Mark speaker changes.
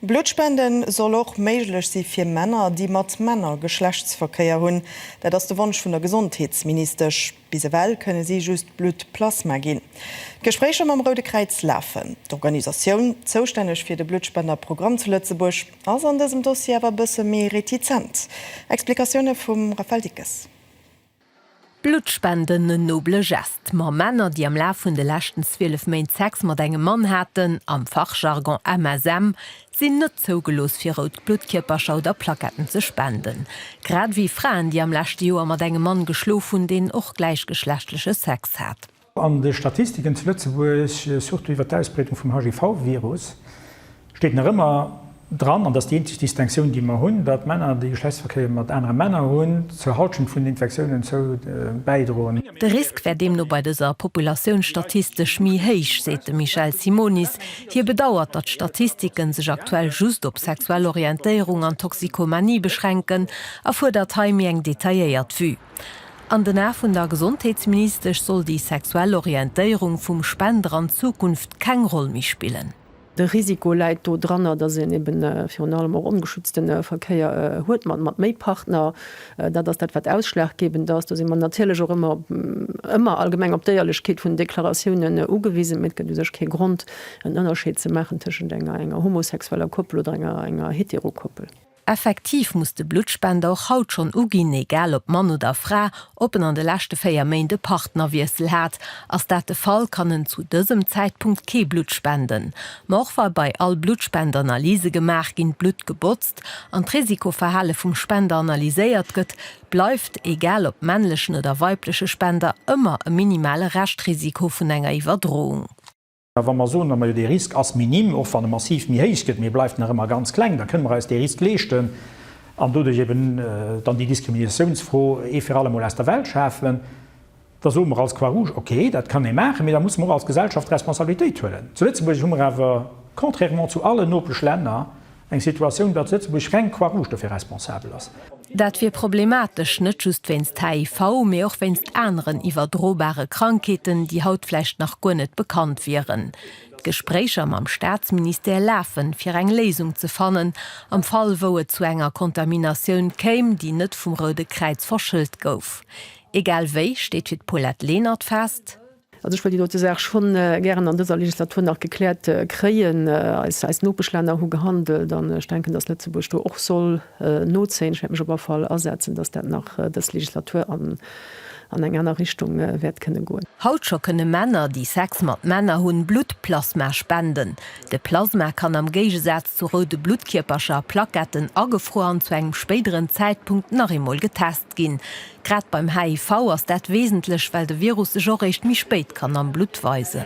Speaker 1: Bluttspende soll och méiglech si fir Männer, déi mat Männer Geschlechtsverkéier hunn. Dat ass de Wonsch vun der Gesondheetsministesch. Bis ewell kënne si just Bluttplasma ginn. D'Gespréicher mam Roude Kräiz lafen. D'Organisatioun, zoustänneg fir de Bluttspenderprogramm zu Lëtzebuerg, ass an dësem Dossier awer e bësse méi retizent. Explikatioune vum Raphaël Dickes. Bluttspenden,
Speaker 2: en noble Geste, ma Männer, déi am Laf vun de leschten 12 Méint Sex mat engem Mann haten, am Fachjargon MSM, sinn net zougelooss fir rout Bluttkierpercher oder Plaquetten ze spenden. Grad ewéi Fraen, déi am leschte Joer mat engem Mann geschlof hunn, deen och gläichgeschlechtleche Sex hat. An de Statistiken
Speaker 3: zu Lëtzebuerg, surtout iwwer d'Ausbreedung vum HIV-Virus, steet nach ëmmer dran, an dat ass déi eenzeg Distinctioun, déi mer hunn, datt Männer, déi Geschlechtsverkéier mat anere Männer hunn, zur Halschent vun den Infektiounen zou bäidroen. De Risk wär
Speaker 2: deemno bei dëser Populatioun statistesch méi héich, seet de Michel Simonis. Hie bedauert, datt d'Statistike sech aktuell just op sexuell Orientéierung an Toxikomanie beschränken a fuerdert hei méi eng detailléiert Vue. An den Ae vun der Gesondheetsministesch soll déi sexuell Orientéierung vum Spender an Zukunft keng Roll méi spillen. De Risiko
Speaker 4: läit do dranner, datt een eben virun allem och ongeschützte Verkéier huet mat méi Partner. Dat ass dat, wat ausschlaggebend ass. Do si mer natierlech och ëmmer, ëmmer allgemeng op d'Éierlechkeet vun den Deklaratiounen ugewisen. Mee et gëtt u sech kee Grond, en Ënnerscheed ze maachen tëschent enger homosexueller Koppel oder enger Heterokoppel. Effektiv
Speaker 2: muss de Bluttspender och haut schonn uginn, egal ob Mann oder Fra, ob en an de leschte 4 Méint e Partnerwiessel hat. Ass dat de Fall, kann en zu dësem Zäitpunkt kee Blutt spenden. Ma och wa bei all Bluttspend Analyse gemaach ginn, d'Blutt gebotzt an d'Risikoverhale vum Spender analyséiert gëtt, bleift, egal ob männlechen oder weibleche Spender, ëmmer e minimale Reschtrisiko vun enger Iwwerdroung. A wa mer
Speaker 3: soen, Majo, dee Risk ass minim, och wann e massiv méi héich gëtt, mee e bleift nach ëmmer ganz kleng, da kënne mer eis dee Risk leeschten an doduerch eeben dann déi Diskriminatiounsfro ee fir allemol aus der Welt schafen, da soe mer als Croix-Rouge, ok, dat kann ee maachen, mee da musse mer och als Gesellschaft Responsabilitéit huelen. Zu Lëtzebuerg hu mer awer, contrairement zu allen nopesch Länner, Eng Situatioun, datt Lëtzebuerg reng Croix Rouge dofir responsabel ass. Dat wier
Speaker 2: problematesch, net just wéinst HIV, mee och wéinst aneren iwwerdrobare Krankheeten, déi haut vläicht nach guer net bekannt wieren. D'Gespréicher mam Staatsministère lafen, fir eng Léisung ze fannen, am Fall wou et zu enger Kontaminatioun kéim, déi net vum Roude Kräiz verschëllt gouf. Egal wéi steet fir d'Paulette Lenert fest, Also ech wëll déi dote
Speaker 4: Saach scho gären an dëser Legislatur nach gekläert kréien. Eis Nopeschlänner hu gehandelt an ech denken, dass Lëtzebuerg do och soll nozéien. Ech wäert mech op all Fall asetzen, dass dat nach dës Legislatur an eng aner Richtung wäert kënne goen. Haut scho kënne Männer,
Speaker 2: déi Sex mat Männer hunn, Bluttplasma spenden. De Plasma kann am Géigesaz zu roude Bluttkierpercher, Plaquetten, agefruer an zu engem spéideren Zäitpunkt nach eemol getest ginn. ginn. Grad beim HIV ass dat wesentlech, well de Virus sech och réischt méi spéit kann am Blutt weisen.